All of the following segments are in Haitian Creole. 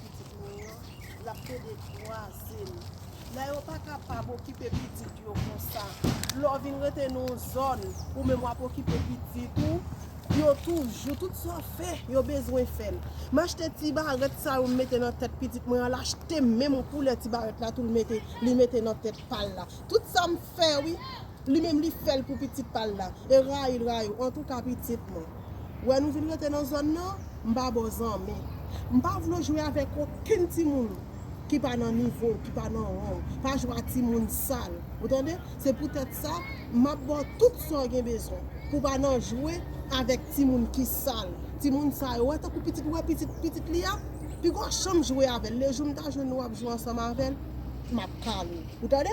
pitit mwen yo lap pede kwazem la yo pa kapab okipe pitit yo konsa lè w vin rete nan yon zòn ou menm wap okipe pitit ou yo toujou tout sa w fè yo bezwen fè l m achte ti barèt sa yo m mete nan tèt pitit mwen an l achte menm koulè ti barèt la tou li mete nan tèt pa l la tout sa m fè wi. Li menm li fèl pou pitit pal la e rayil rayil antouka pitit mwen wè nou vin rete nan zòn nan m pa baw zanmi m pa vle w jwe avèk okenn timoun ki pa nan nivo w ki pa nan ran w pa jwe a timoun sal ou tande se pou tèt sa map baw tout sa w gen bezwen pou pa nan jwe avèk timoun ki sal timoun sa yo wè tankou pitit ou wè pitit pitit li a pigon chanm jwe avèl lejou m ta jwenn nou wap jwe ansanm avèl map kale w ou tande.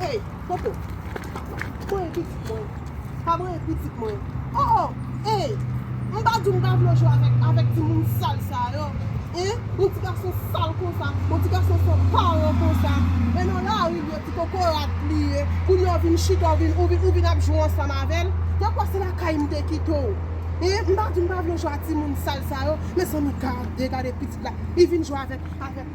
Ey Koko Pa voye pitit mwen Pa voye pitit mwen Oh oh Ey M pa di w m pa vle w jwe avèk timoun sal sa yo Hein Yon ti gason sal konsa Yon ti gason san paran konsa E nan lari l ye Ti kokorat li ye Kounye a w vin chita Ou vin ap jwe ansanm avè l Nan kwa se lakay m te kite w Hein M pa di w m pa vle w jwe ak timoun sal sa yo Mezanmi gade Gade pitit la Li vin jwe avèk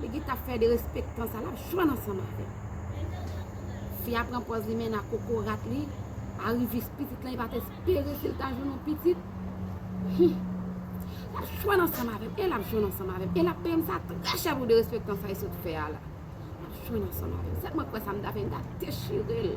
Li ki tap fè derespektan sa lap jwenn ansanm avèl. Fi a pran pòz li mennen ak kokorat li, arivis pitit lan li pat espere sil ta jwenn yon pitit. Hum. Lap jwenn ansanm avèm, e lap jwenn ansanm avèm, e lap peyem sa trè chè pou derespektan sa li sot fè a la. Lap jwenn ansanm avèm. Sèlman kwè sa m ta fè m ta dechirel.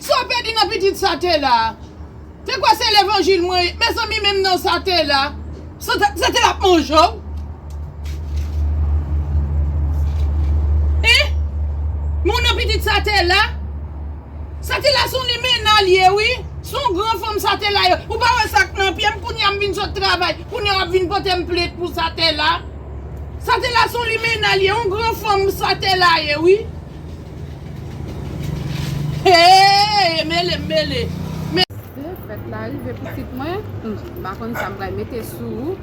Saw pèdi nan pitit sa te la. Te kwè se levanjil mwen ye mezanmi menm nan sa te la. Sa te la ap manje w. Hein Moun nan pitit sa te la. Sa te la son limena l ye wi. Son gran fanm sa te la ye. Ou pa wè sak nan pyem kounya m vin sot travay kounya wap vin potem plent pou sa te la. Sa te la son limena l ye on gran fanm sa te la ye wi. Heyy e mele m mele. Mesi fèt la rive pitit mwen. M pa konn sa m pral mete sou ou.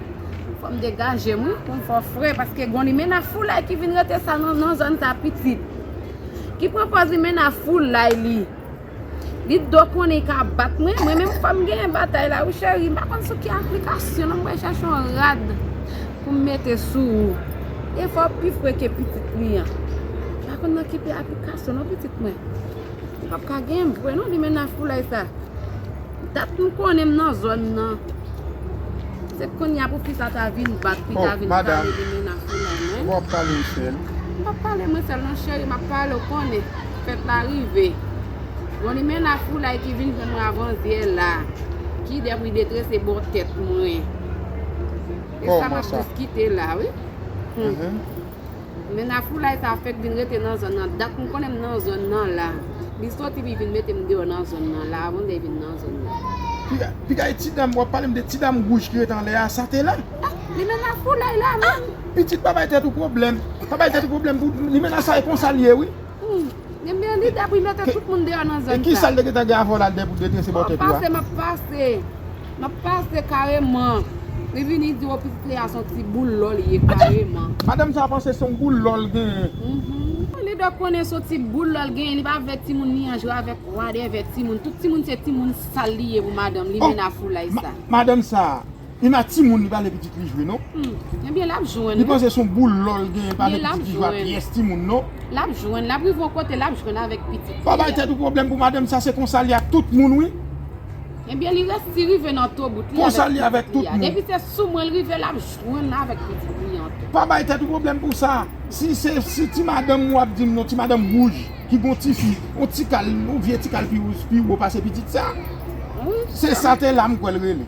Fò m degaje m wi pou m fè w fre paske gon limena foulay ki vin rete sa nan zòn sa pitit. Ki pran pòz limena foulay li. Li t dwe konnen li ka bat mwen, mwen menm fòm genyen batay la wi cheri, m pa konn sou ki aplikasyon non m pral chache yon rad pou m mete sou ou, e fò w pi fre ke pitit li an, m pa konn nan ki aplikasyon non pitit mwen, ou pap ka genyen m vre non li menaj foulay sa. Ou tap tou konnen m nan zòn nan. Se kounya pou pita ta vin bat pita vin pale de menas li nan men. Wap pale ou sèl. M pap pale mwen sèl non cheri map pale ou konnen fèt la rive. Bon limena foulay ki vin jwenn mwen avan zyè la. Ki dèf li detrese bò tèt mwen. Kòman sa. E sa map diskite la wi. Hum. Men na foulay sa fèk vin rete nan zòn nan dat m konnen m nan zòn nan la li soti li vin mete m deyò nan zòn nan la avan dèy vin nan zòn nan. Pigay ti dam wap pale m de ti dam wouj ki rete anlè a sa te la? Ah limena foulay la menm. Pitit pa bay tèt ou pwoblèm, pa bay tèt ou pwoblèm pou limena sa e konsa l ye wi. Humm Ebyen li dèpwi mete tout moun deyò nan zòn sa. E kisa l te gentan gen avè w la l dèpwi detrese bò tèt ou a? Map pase map pase Map pase kareman Li vini di w pitit li a son ti boul lò li ye kareman. Madanm sa panse son boul lò l genyen. Humm li dwe konnen son ti boul lò l genyen li pa vle timoun li an jwe avèk wadèvè timoun tout timoun se timoun sal li ye pou madanm li menna foulay sa. Madanm sa Ima timoun li pale pitit li jwe non. Humm ebyen lap jwenn. Li panse son boul lòl genyen pale pitit li jwe a pyès timoun non. Lap jwenn lap rive yon kote lap jwenn avèk pitit li a. Pa bay tèt ou pwoblèm pou madanm sa se konsal ye ak tout moun wi. Ebyen li resi rive nan tobout li avèk pitit li a. Konsal li avèk tout moun. Depi se sou mwen li rive lap jwenn avèk pitit li an tou. Pa bay tèt ou pwoblèm pou sa. Si se si ti madanm ou ap dim non ti madanm wouj ki gon tifi yon tikal yon vye tikal pi wou pase pitit sa. Se sa te la m kwèl rele.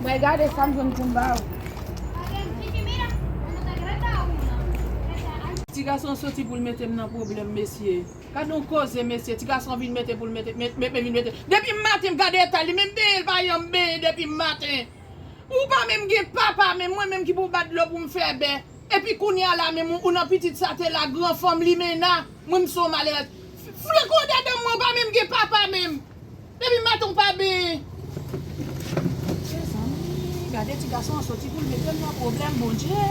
Mwen gade sa m jwenn pou m ba ou. Ti gason an soti pou l mete m nan pwoblèm mesye. Gadon koze mesye, ti gason an vin mete pou l mete, mete vin mete. Depi maten m gade eta l, li menm benyen l pa janm benyen depi maten. Ou pa menm gen papa menm, mwen menm ki pou bat dlo pou m fè bè. Epi kounya la menm ou nan pitit sa te la gran fanm limena, mwen m son malerèz. Flank odedan mwen ou pa menm gen papa menm. Depi maten ou pa ben. Mezanmi gade ti gason an soti poul metem nan pwoblèm bondye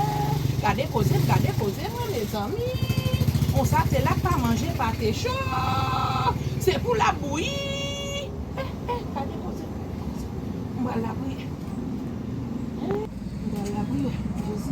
gade koze gade koze mwen mezanmi konsa te lap pa manje pate cho se pou lap bouyi eh eh gade koze m pral lapriyè m pral lapriyè jezi.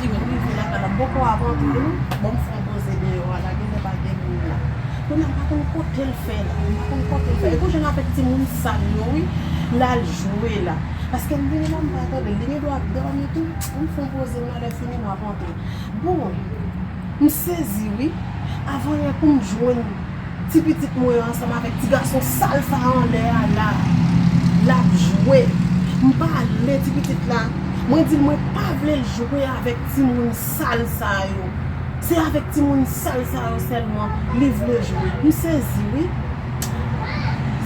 Jimmy, rive lakay la bòkò avan tou wi, bon m fon poze deyò a la genlè pa gen moun la. Kounye a m pa konn kotel fè la, m pa konn kotel fè. Epou jan l ap fè timoun sal yo wi, l al jwe la. Paske m vini la m pa tandel, li gen dwa ap dòmi tou. Bon m fon poze m la lè fini m ap antre. Bon, m sezi wi, avan yè pou m jwenn. Ti pitit mwen an ansanm avèk ti gason sal sa a anlè a la a. L ap jwe. M pale ti pitit la, mwen di l mwen pa vle l jwe avèk timoun sal sa yo. Se avèk timoun sal sa yo sèlman li vle jwe. M sezi wi.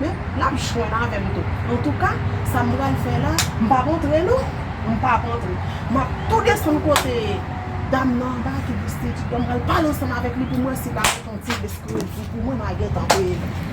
Men, l ap jwenn avè m tou. Antouka, sa m pral fè la, m p ap antre non! M p ap antre. M ap tou desann kote dam nan anba a ki pwostitye a. M pral pale ansanm avèk li pou m wè si l pa gen yon ti esklizif pou mwen. M a gentan peye li.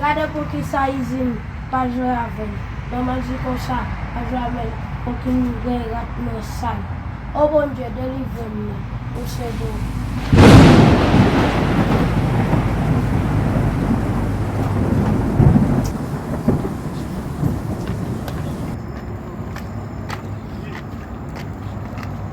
Gade poukisa izin pa jwe avèm nan manti konsa pa jwe avèm kokin m gen rat nan sanm oh Bondye delivrem nan ou se bon.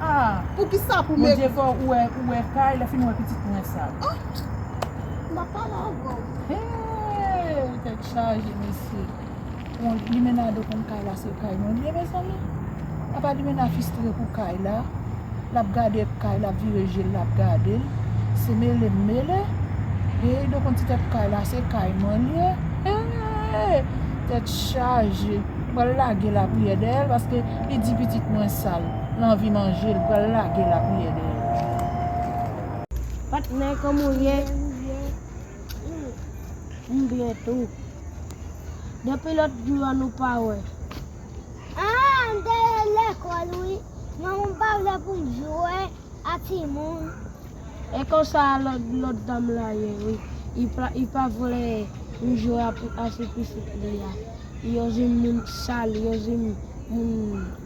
Ah poukisa pou m ekri. Bondye fè w ou wè kay lè fin wè pitit prince sa. M pa pale avè w. Hee tèt chaje mesye. Bon limena do konn kay la se kay mwen liye mezanmi apa limena fistre pou kay la lap gade kay lap vire jel lap gadel se mele m mele hee do konn ti tèt kay la se kay mwen liye hee tèt chaje m pral lage lapriyè dèyèl paske li di pitit mwen sal. L anvi manje l pral lage lapriyè dèyè l. Patnè kòman w ye? M byen tou. Depi lòt jou an nou pa wè. Aa m te ye lekòl wi manman m pa vle pou m jwe a timoun. E konsa lòt dam la ye wi li pa vle m jwe a ti pitit li a. Yo di m moun sal yo di m moun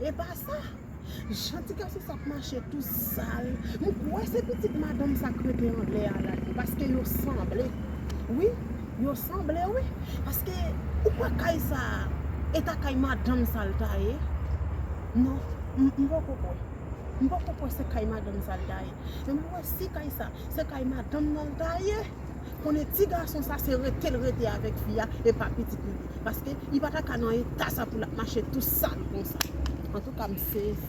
Epa sa. Jan ti gason sa ap mache tou sal. M kwè se pitit madanm sa k rete anlè a la ui. Paske yo sanble. Wi. Yo sanble wi. Paske ou kwè kay sa a eta kay madanm sa l ta ye? Non. M poko kwè. M poko kwè se kay madanm sa l ta ye. Men m kwè si kay sa se kay madanm nan l ta ye. konnen ti gason sa se retel rete avèk fi a e pa pitit li ye paske li pata ka nan eta sa pou lap mache tou sal konsa antouka m sezi.